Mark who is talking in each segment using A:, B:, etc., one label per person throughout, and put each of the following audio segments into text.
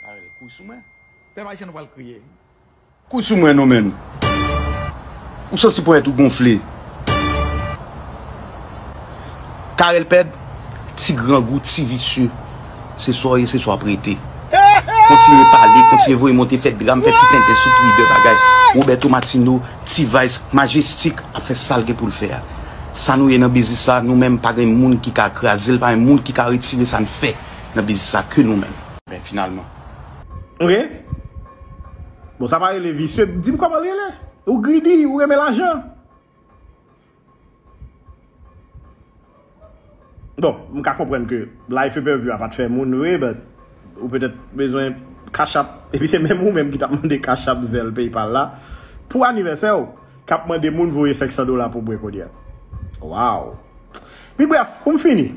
A: Carel kouy sou mwen. Pèp ayisyen nou pral kriye wi. Kouy sou mwen non menn. Ou santi ponyèt ou gonfle. Carel pèd, ti grangou, ti visye. Se sa w ye, se sa w ap rete. Kontinye pale, kontinye voye monte, fè dram, fè ti tenten sou Twitter bagay. Roberto Martino, T-vice, Majestic ap fè sa l gen pou l fè a. Sa nou ye nan biznis la, nou menm pa gen moun ki ka kraze l, pa gen moun ki ka retire sa n fè. Nan biznis la ke nou menm. Ben finalman. Ok.
B: Bon sa pa rele visye. Dim koman l rele. Ou greedy, ou renmen lajan. Bon, m ka konprann ke life pèvue a pa t fè moun vre but ou petèt bezwen cash app epi se menm ou menm ki t ap mande cash app, zelle, paypal la pou anivèsè w k ap mande moun voye 500 dola pou bwe kounye a. Waww. Pi brèf, pou m fini.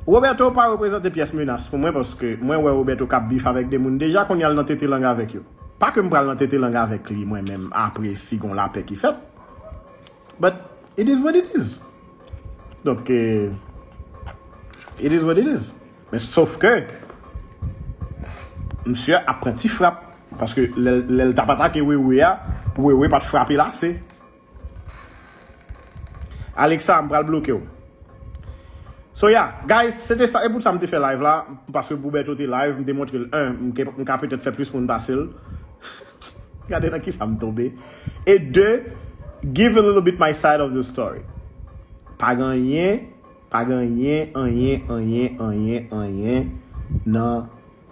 B: Roberto pa reprezante pyès menas pou mwen paske mwen wè Roberto kap bif avèk 2 moun deja kounya l nan tete lang avèk yo. Pa ke m pral nan tete lang avèk li mwen menm apre si gon lapè ki fèt. But it is what it is. Donk it is what it is. Men sof ke msye ap pran ti frap paske lè l tap atake Wewe a, Wewe pat frape l ase. Alexa m pral bloke w. So ya guys se te sa e pou sa m te fè live la paske pou Bertho te live m te montre l 1 m ka petèt fè plis moun pase l gade nan kisa m tonbe e 2 give a little bit my side of the story pa gen anyen pa gen anyen anyen anyen anyen anyen nan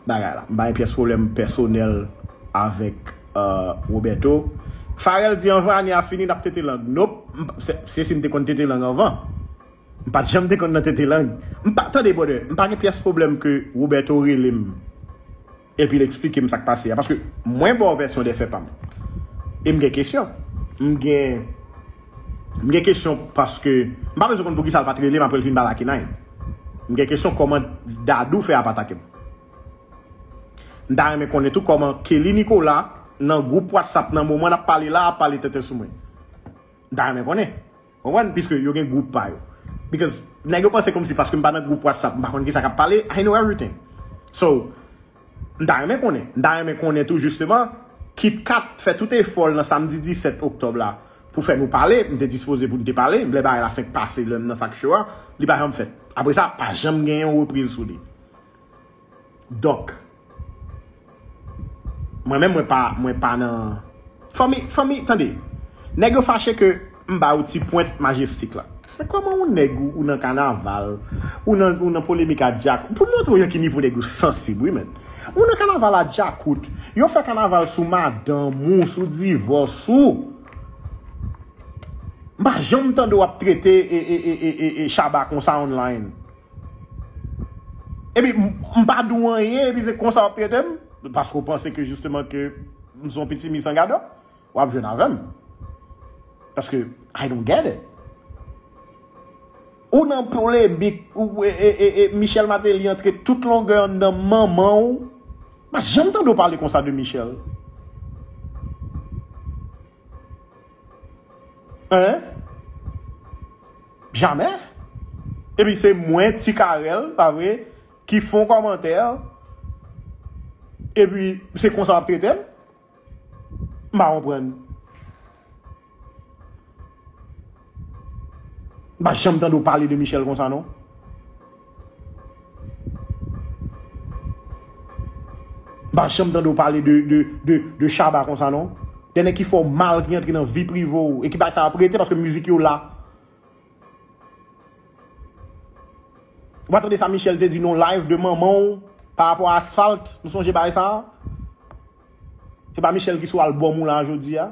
B: bagay la. M pa gen pyès pwoblèm pèsonèl avèk Roberto. Pharel di anvan ane a fini n ap tete lang. Nop, se si m te konn tete lang anvan. M pa t janm te konn nan tete lang. M pa, tande brother, m pa gen pyès pwoblèm ke Roberto rele m epi l esplike m sa k pase a. Paske mwen ba w vèsyon dèfè pa m. E m gen kesyon. M gen. M gen kesyon paske m pa bezwen konn poukisa l pat relem aprè l fin ba lakinay m gen kesyon kòman Dadou fè ap atakem m ta renmen konnen tou kòman Kelly Nicolas nan gwoup WhatsApp nan moman nap pale la ap pale tenten sou mwen m ta renmen konnen ou konprann piske yo gen gwoup pa yo because nèg yo panse kòmsi paske m pa nan gwoup WhatsApp m pa konn kisa kap pale I know everything so. M ta renmen konnen. M ta renmen konnen tou jisteman, KitKat fè tout efò l nan samdi 17 oktòb la pou fè nou pale. M te dispoze pou n te pale. Lè bagay la fenk pase lè m nan Fact Show a, li pa janm fèt. Apre sa, pa janm gen yon repriz sou li. Donk, mwen menm mwen pa nan fanmi, fanmi, tande, nèg yo fache ke. M ba ou ti pwent majestic la. Men koman yon neg ou nan kanaval ou nan ou nan polemik a djakout pou montre w yon ki nivo neg yo sansib wi menn ou nan kanaval a djakout yo fè kanaval sou madanm ou sou divòs ou m pa janm tande w ap trete e shaba konsa online epi m pa di w anyen epi se konsa w ap trete m paske w panse ke jisteman ke m son pitimi san gadò. Wap jwenn avèm. Paske I don't get it. Ou nan polemik e Michel Martelly antre tout longè anndan manman ou. Pas janm tande ou pale konsa de Michel. Hein? Jamè? Epi se mwen ti Carel, pa vre, ki fon kòmantè. Epi se konsa wap tretem? M pa konprann. M pa janm tande w pale de Michel konsa non. M pa janm tande w pale de Shabba konsa non. De nèg ki fè w mal, ki antre nan vi prive w e ki bay sa yo ap rete paske mizik yo la. Ou pa tande sa Michel te di nan yon live de manman w pa rapò a Asphalt? Nou sonje bagay sa a? Se pa Michel ki sou album ou la jodi a?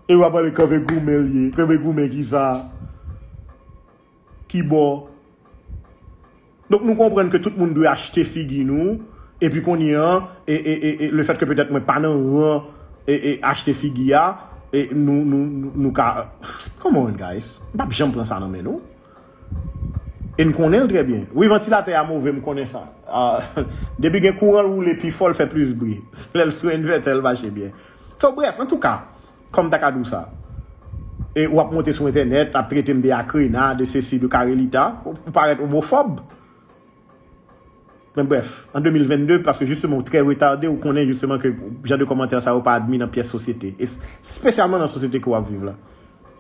B: E w ap pale kanpe goumen l ye. Kanpe goumen ki sa? Ki bò? Donk nou konprann ke tout moun dwe achte figi nou, epi kounye a, e, e, e, e, le fèt ke petèt mwen pa nan ran, e, e, achte figi a, e, nou, nou, nou, nou ka, come on guys, m pap janm pran sa nan men nou. E n konnen l trè byen. Wi vantilatè a move, m konnen sa. Depi gen kouran l woule pi fò, l fè plis bri. Se lè l sou envètè l mache byen. So brèf, antouka, Kòm m ta ka di w sa? E ou ap monte sou entènèt, ap trete m de akrena, de sesi, de karelita. Ou parèt omofòb. Men brèf, an 2022, paske jisteman ou trè retade, ou konnen jisteman ke jan de kòmantè sa yo pa admi nan pyès sosyete. Espesyalman nan sosyete ke w ap viv la.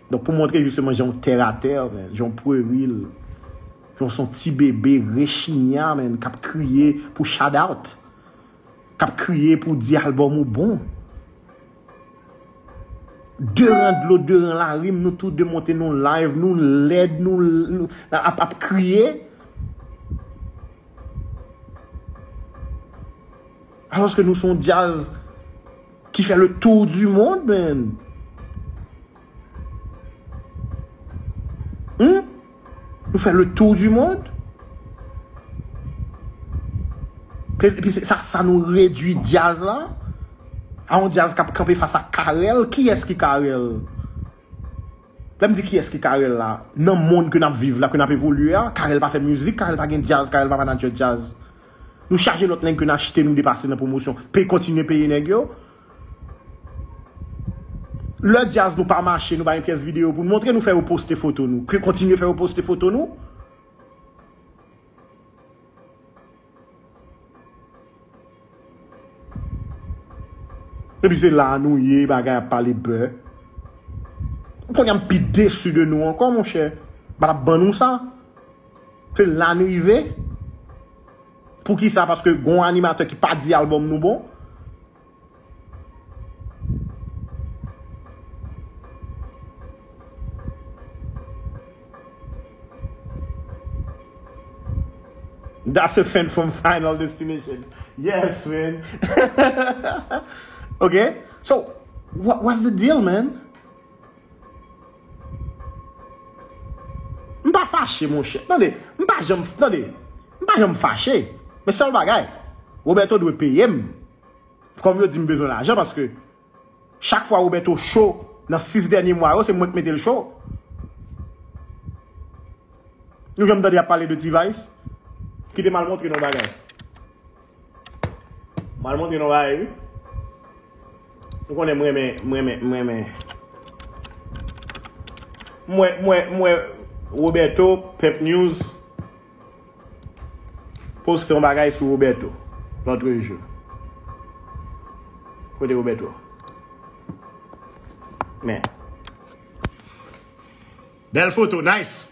B: Donk pou montre jisteman jan w tè a tè, men, jan w pweril, jan w son ti bebe rechinya, men, k ap kriye pou shoutout, k ap kriye pou di albòm ou bon. De ran dlo de ran larim nou tou de monte nou live nou lèd nou ap ap kriye. Aloske nou son djaz ki fè le tour du monde menn. Nou fè le tour du monde. Epi se sa sa nou redwi dyaz la. A yon dyaz kap kanpe fas ak Carel. Ki es ki Carel? Lè m di ki es ki Carel la. Nan mond ke nap viv la, ke nap evolye a. Carel pa fè mizik, Carel pa gen dyaz, Carel pa manager dyaz. Nou chaje lot neg ke n achte nou depase nan pwomosyon. Pe kontinye peye neg yo. Lè djaz nou pa mache nou pa gen pyès videyo pou nou montre nou fè yo poste foto nou ke kontinye fè yo poste foto nou. Epi se la nou ye bagay ap pale bè. Ou konn yam pi desu de nou ankò monchè. Mpa tap ban nou sa. Se la nou rive. Poukisa paske gon animatè ki pa di album nou bon. That's a fan from final destination Yes man Ok So what's the deal man? M pa fache monchè. Tande, m pa janm, tande, m pa janm fache. Men sèl bagay, Roberto dwe peye m. Kòm yo di m bezwen lajan paske chak fwa Roberto cho nan 6 dènye mwa yo se mwen k mete l cho. Nou janm tande y ap pale de T-Vice? Kite m al montre nou yon bagay. Mal montre nou bagay wi. Ou konnen mwen men, mwen men, mwen men. Mwen, mwen, mwen, Roberto, Pep News, poste yon bagay sou Roberto, lantre jou. Kote Roberto? Men. Bel foto, nice!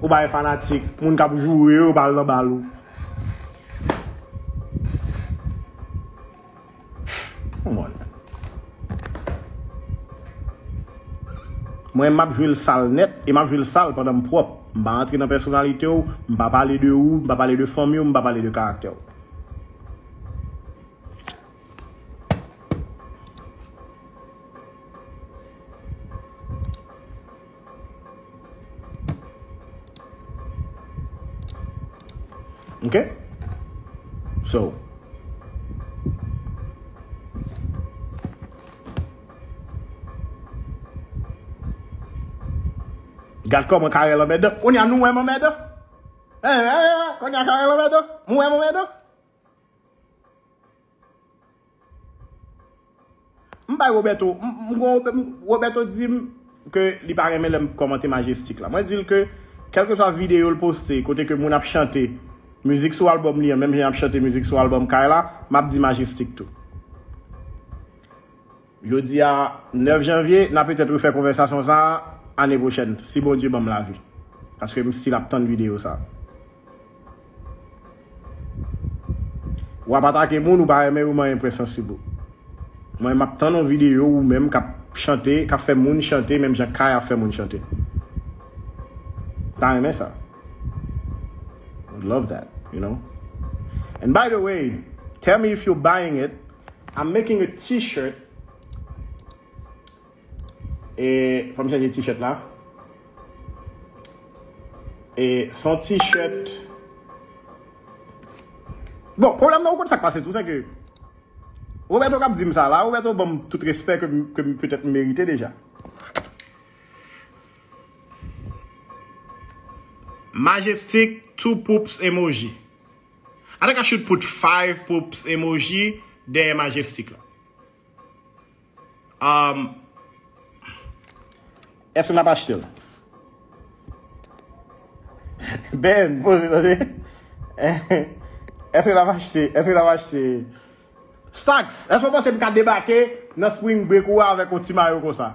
B: Ou bay fanatik, moun kap joure yo pa al nan bal ou. Come on man. Mwen map jwe l sal nèt e map jwe l sal pandan m pwòp. M pa antre nan pèsonalite w, m pa pale de ou, m pa pale de fanmi w, m pa pale de karaktè w. Ok? So. Gad kòman Karel anmèdan. Konya nou wèm anmèdan. Konya Karel anmèdan. Mwen anmèdan. M bay Roberto, m kon Roberto di m ke li pa renmen lè m kòmante Majestic la. Mwen di l ke kèlkeswa videyo l poste kote ke moun ap chante mizik sou albòm li an menm jan y ap chante mizik sou albòm Kay la, m ap di Majestic tou. Jodi a 9 janvye, na petèt refè konvèsasyon sa a ane pwochèn, si Bondye ban m lavi. Paske m stil ap tann videyo sa a. Ou ap atake moun ou pa renmen yo manyen prince an sibo. Mwen m ap tann yon videyo ou menm k ap chante, k ap fè moun chante menm jan Kay ap fè moun chante. M pa renmen sa. Would love that, you know? And by the way, tell me if you're buying it, I'm making a t-shirt E, fòm chanje t-shirt la E, son t-shirt Bon, problem nan ou kont sa k pase tou, se ke Roberto kap di m sa la, Roberto banm tout respect ke m petèt m merite deja. Majestic two poops emoji. Ataka should put five poops emoji dèyè majestic la. Umm. Eske nap achte l? Ben poze tande. Eske nap achte, eske nap achte. Stax, eske w panse m ka debake nan spring break ou a avèk yon ti mayo konsa?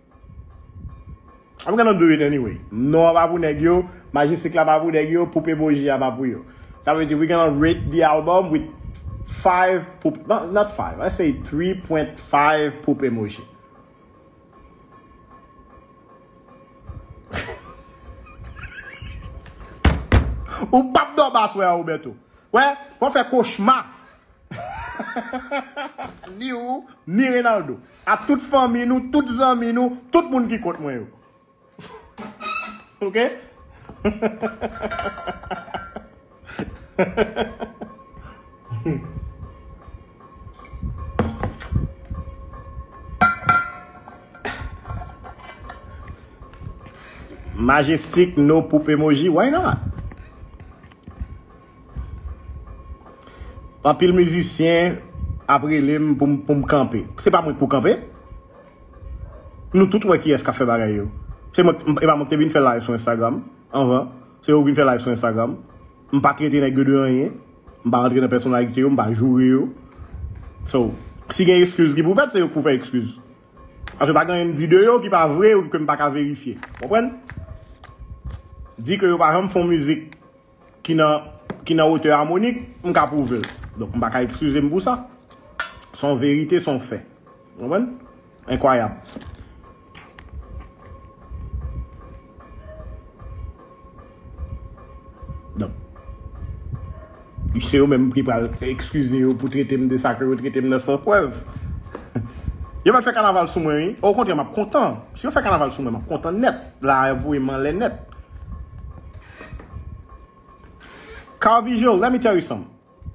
B: I'm gonna do it anyway. Non an pa pou nèg yo, Majestic la pa pou nèg yo, Poupe Bougie a pa pou yo. Sa vle di we gonna rate the album with 5 Poupe, no, not 5, let's say 3.5 Poupe Mouji. Ou pap dòmi aswè a Roberto. Wè, wap fè kochma. Ni ou, ni Renaldo. A tout fanmi nou, tout zanmi nou, tout moun ki kont mwen yo. Ok? Majestic no poop emoji, why not? Anpil mizisyen ap rele m pou m kanpe. Se pa mwen ki pou kanpe. Nou tout wè kiyès k ap fè bagay yo. Se mwen, e pa mwen ki te vin fè live sou Instagram anvan. Se yo ki vin fè live sou Instagram. M pa trete nèg yo de anyen. M pa rantre nan pèsonalite yo. M pa joure yo. So, si gen ekskiz ki pou fèt, se yo ki pou fè ekskiz. Paske pa gen anyen m di de yo ki pa vre ou ke m pa ka verifye. Konprann? Di ke yo pa janm fon mizik Ki nan, ki nan wotè amonik, m ka pwouve l. Donk m pa ka ekskize m pou sa. S on verite, s on fè. Ou konprann? Enkwayab. Donk, se yo menm ki pral ekskize yo pou trete m de sa ke yo trete m nan san prèv. Yo mèt fè kanaval sou mwen wi. O kontrè, m ap kontan. Si yo fè kanaval sou mwen, m ap kontan nèt. La a y ap voye m anlè nèt. Car visual let me tell you some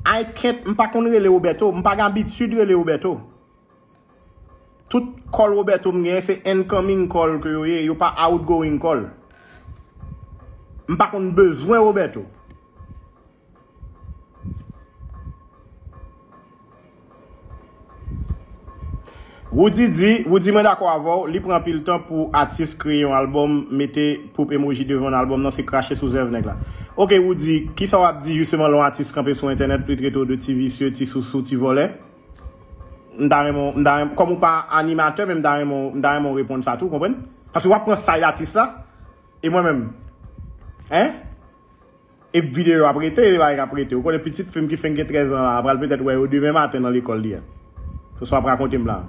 B: I can't m pa konn rele Roberto m pa gen abitid rele Roberto tout call Roberto m genyen se incoming call ke yo ye yo pa outgoing call m pa konn bezwen Roberto. Roody di, Roody mwen dakò avèw, li pran anpil tan pou atis kreye yon album, mete poup emoji devan album nan se krache sou zèv nèg la. Ok Roody, kisa wap di jisteman lè yon atis kanpe sou entènèt pou li trete w de ti visye, ti sousou, ti vòlè? M ta renmen w, m ta renmen, kòm ou pa animatè men m ta renmen w, m ta renmen w reponn sa tou, konprann? Paske wap pran side atis la, e mwen menm? Hein? Ep video yo ap rete e bagay kap rete. Ou konnen pitit fim ki fenk gen 13 ans la pral petèt wè yo demen maten nan lekòl li a. Se sa wap rakontem la.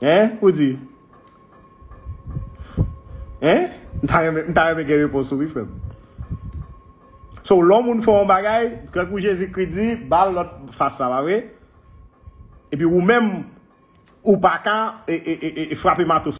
B: Hein ou di? Hein? M ta renmen m ta renmen gen repons ou wi frèm. So lò moun fè yon bagay, tankou Jezi Kri di, bal lòt fas la pa vre? Epi ou menm ou pa ka e, e, e, e frape mato sou.